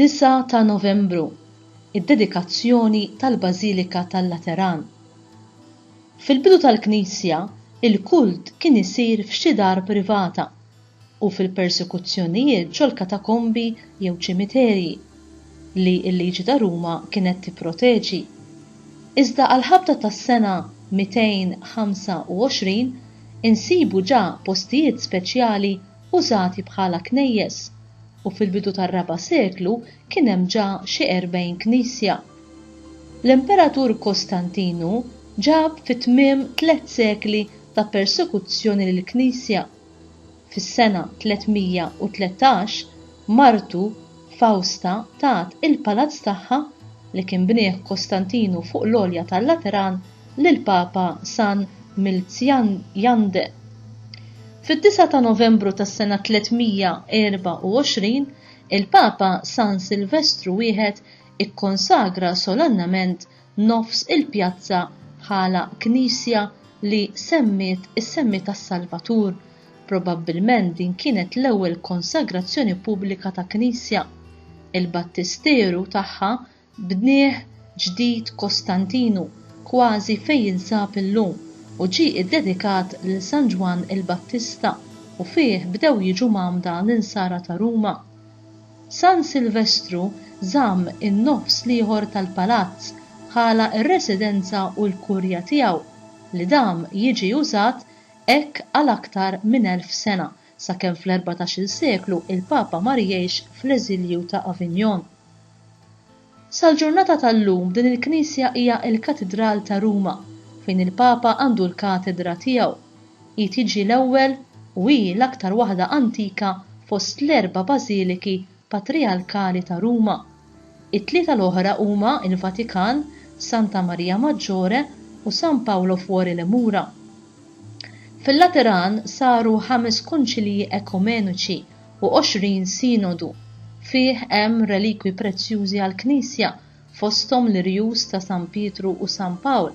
Disa' ta' Novembru, id-dedikazzjoni tal-Bażilika tal-Lateran. Fil-bidu tal-Knisja, il-kult kien isir f'xi dar privata. u fil-persekuzzjonijiet ġol-katakombi jew ċimiterji, li l-liġi ta' Ruma kienet tipproteġi. Iżda għall-ħabta tas-sena 225 insibu ġa postijiet speċjali użati bħala knejjes, u fil-bidu tar-raba' seklu kien hemm ġa xi erbgħin knisja. L-Imperatur Kostantinu ġab fi tmiem tliet sekli ta' persekuzzjoni lill-Knisja. Fis-sena 313, martu Fawsta tat il-palazz tagħha, li kien bnieh Kostantinu fuq l-għolja tal-Lateran, lill-Papa San Milzjan Jand. Fid-disgħa ta' Novembru tas-sena 324, il-Papa San Silvestru I ikkonsagra solennament nofs il-pjazza bħala knisja li semmiet is-semmi tas-Salvatur, probabbilment din kienet l-ewwel konsagrazzjoni pubblika ta' knisja. Il-battisteru tagħha bnieh ġdid Kostantinu, kważi fejn jinsab illum, u ġie iddedikat lil San Ġwann il-Battista u fih bdew jiġu mgħammda l-insara ta' Ruma. San Silvestru żamm in-nofs l-ieħor tal-palazz bħala r-residenza u l-kurja tiegħu, li dam jiġi użat hekk għal aktar minn elf sena, sakemm fl-erbatax-il seklu l-Papa mar jgħix fl-eżilju ta' Avignon. Sal-ġurnata tal-lum din il-knisja hija l-Katidral ta' Ruma, fejn il-Papa għandu l-katedra tiegħu. Hi tiġi l-ewwel u hi l-aktar waħda antika fost l-erba' bażiliki patrijarkali ta' Ruma. It-tlieta l-oħra huma l-Vatikan, Santa Maria Maggiore u San Paolo Fuori le Mura. Fil-Lateran saru ħames Konċilji Ekumeniċi u għoxrin sinodu. Fih hemm relikwi prezzjużi għall-Knisja, fosthom l-irjus ta' San Pietru u San Pawl,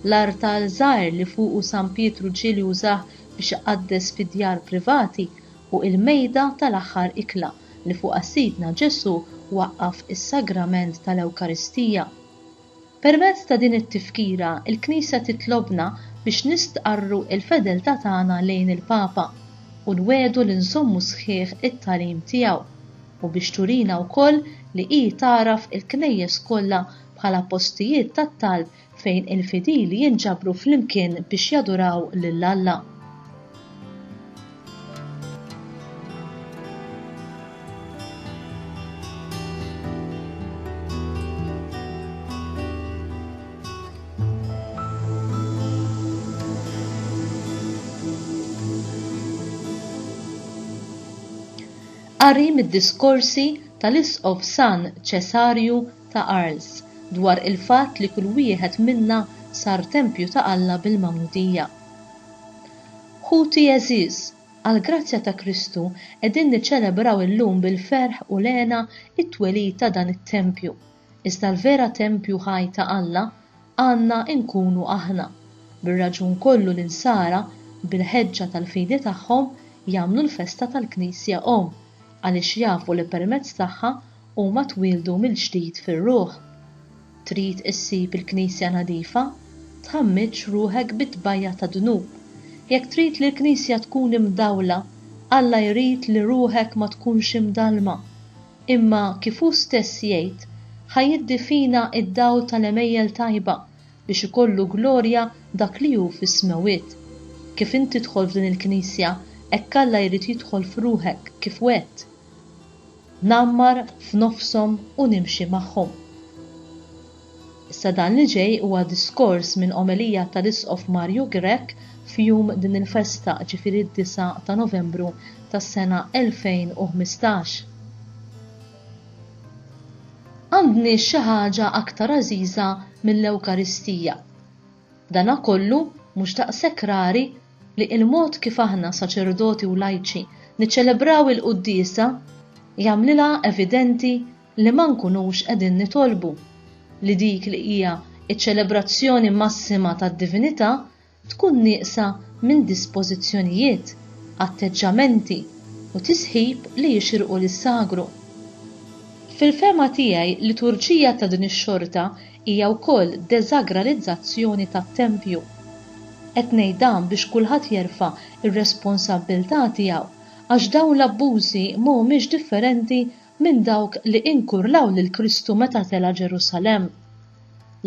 l-artal żgħir li fuqu San Pietru ġieli użah biex iqaddes fi djar privati u il-mejda tal-aħħar ikla li fuqha Sidna Ġesù waqqaf is-Sagrament tal-Ewkaristija. Permezz ta' din it-tifkira, il-Knisja titlobna biex nistqarru l-fedeltà tagħna lejn il-Papa u nwegħdu li nżommu sħiħ it-tagħlim tiegħu, u biex turina wkoll li hi tagħraf il-Knejjes kollha bħala postijiet tat-talb fejn il-fidili jinġabru flimkien biex jaduraw lil Alla. Qari mid-diskorsi tal-Isqof San Ċesarju ta' Arles dwar il-fatt li kull wieħed minna sar tempju ta' Alla bil-Magħmudija. Ħuti għeżież, għall-grazzja ta' Kristu qegħdin niċċelebraw illum bil-ferħ u l-hena t-twelid ta' dan it-tempju, iżda l-vera tempju ħaj ta' Alla għandna nkunu aħna. Bir-raġun kollu l-Insara, bil-ħeġġa tal-fidi tagħhom, jagħmlu l-festa tal-Knisja Omm, għaliex jafu li permezz tagħha huma twieldu mill-ġdid fir-ruħ. Trid issib il-Knisja nadifa? Tħammiġx ruħek bi tbajja' ta' dnub. Jekk trid li l-Knisja tkun imdawla, Alla jrid li ruħek ma tkunx imdallma. Imma, kif hu stess jgħid, ħa jiddi fina id-dawl tal-għemejjel tajba, biex ikollu glorja dak li hu fis-smewwiet. Kif int tidħol f'din il-Knisja, hekk Alla jrid jidħol f'ruħek, kif wegħedt. Ngħammar f'nofshom u nimxi magħhom. Issa dan li ġej huwa diskors minn omelija tal-Isqof Mario Grech f'jum din il-festa, ġifieri d-disa' ta' Novembru tas-sena 2015. Għandniex xi ħaġa aktar għażiża mill-Ewkaristija. Dana kollu mhux daqshekk rari li il-mod kif aħna saċerdoti u lajċi niċċelebraw il-quddiesa jagħmlilha evidenti li ma nkunux qegħdin nitolbu li dik li hija ċ-ċelebrazzjoni massima tad-divinità tkun nieqsa minn dispożizzjonijiet, atteġġamenti u tisħib li jixirqu lis-sagru. Fil-fehma tiegħi, liturġija ta' din ix-xorta Hija wkoll deżagralizzazzjoni tat-tempju. Qed ngħid dan biex kulħadd jerfa' r-responsabbiltà tiegħu għax dawn l-abbużi ma humiex differenti minn dawk li inkurlaw lil Kristu meta tela' Ġerusalemm.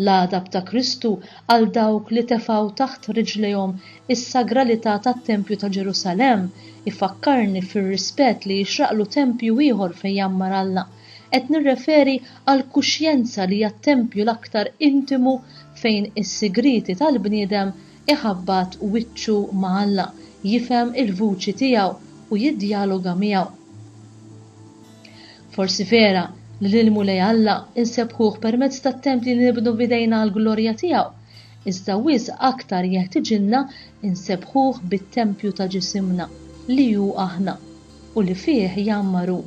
L-għadab ta' Kristu għal dawk li tefgħu taħt riġlejhom is-sagralità tat-tempju ta' Ġerusalemm ifakkarni fir-rispett li jixraqlu tempju ieħor fejn jgħammar Alla, Qed nirreferi għall-kuxjenza li hija t-tempju l-aktar intimu fejn is-sigrieti tal-bniedem iħabbat wiċċu ma' Alla, jifhem il-vuċi tiegħu u jiddjaloga miegħu. Forsi vera li lill-Mulej Alla nsebbħuh permezz tat-tempji li nibnu b'idejna għall-glorja tiegħu, iżda wisq aktar jeħtiġilna nsebbħuh bit-tempju ta' ġisimna, li hu aħna. u li fih jgħammar hu.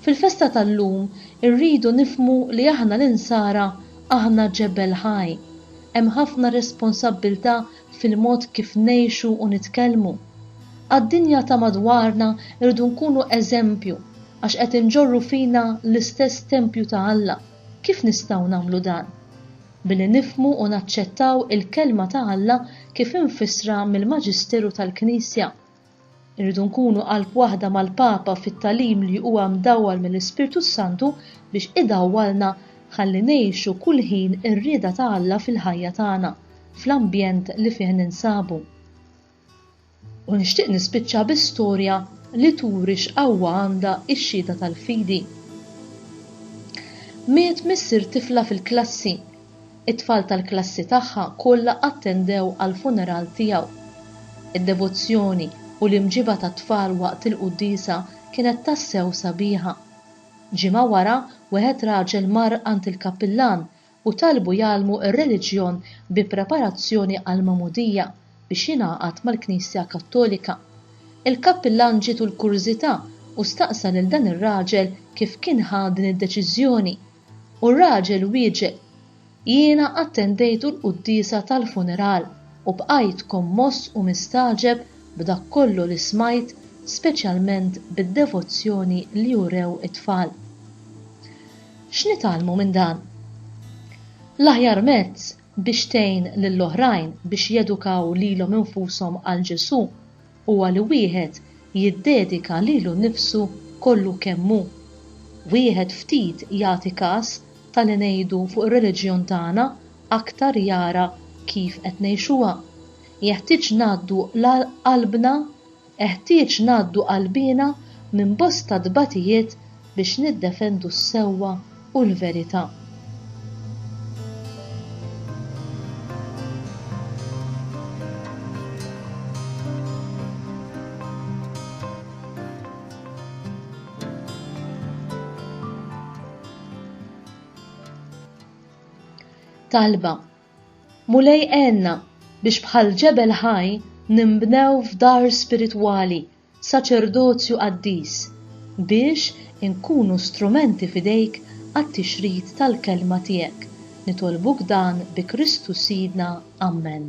Fil-festa tal-lum irridu nifhmu li aħna l-Insara aħna ġebel ħaj. Hemm ħafna responsabbiltà fil-mod kif ngħixu u nitkellmu. Għad-dinja ta' madwarna rridu nkunu eżempju għax qed inġorru fina l-istess tempju ta' Alla. Kif nistgħu nagħmlu dan? Billi nifhmu u naċċettaw il-Kelma ta' Alla kif imfissra mill-Maġisteru tal-Knisja. Irridu nkunu qalb waħda mal-Papa fit-tagħlim li huwa mdawwal mill-Ispirtu s-Santu biex idawwalna ħalli ngħixu kull ħin ir-rieda ta' Alla fil-ħajja tagħna, fl-ambjent li fih ninsabu. U nixtieq nispiċċa bi storja li turi x'qawwa għandha x-xhieda tal-fidi. Miet missier tifla fil-klassi It-tfal tal-klassi tagħha kollha attendew għall-funeral tiegħu. Id-devozzjoni u l-imġiba tat-tfal waqt il-quddiesa kienet tassew sabiħa. Ġimgħa wara, wieħed raġel mar għand il-kappillan u talbu jgħallmu r-reliġjon bi preparazzjoni għall-magħmudija biex jingħaqad mal-Knisja Kattolika. Il-kappillan ġietu l-kurżità u staqsa lil dan ir-raġel kif kien ħa din id-deċiżjoni. U r-raġel wieġeb, Jiena attendejt l-quddiesa tal-funeral u bqajt kommoss u mistagħġeb b'dak kollu li smajt, speċjalment bid-devozzjoni li urew it-tfal. X'nitgħallmu minn dan? L-aħjar mezz biex tgħin lill-oħrajn biex jedukaw lilhom infushom għal Ġesù Huwa li wieħed jiddedika lilu nnifsu kollu kemm hu. Wieħed ftit jagħti kas ta' li ngħidu fuq ir-reliġjon tagħna aktar jara kif qed ngħixuha. Jeħtieġ ngħaddu qalbna, eħtieġ ngħaddu qalbiena minn bosta tbatijiet biex niddefendu s-sewwa u l-verità. talba. Mulej għenna biex bħal ġebel ħaj nimbnew f'dar spiritwali saċerdozju qaddis, biex inkunu strumenti f'idejk għat-tixrid tal-kelma tiegħek, nitolbuk dan bi Kristu Sidna. Ammen.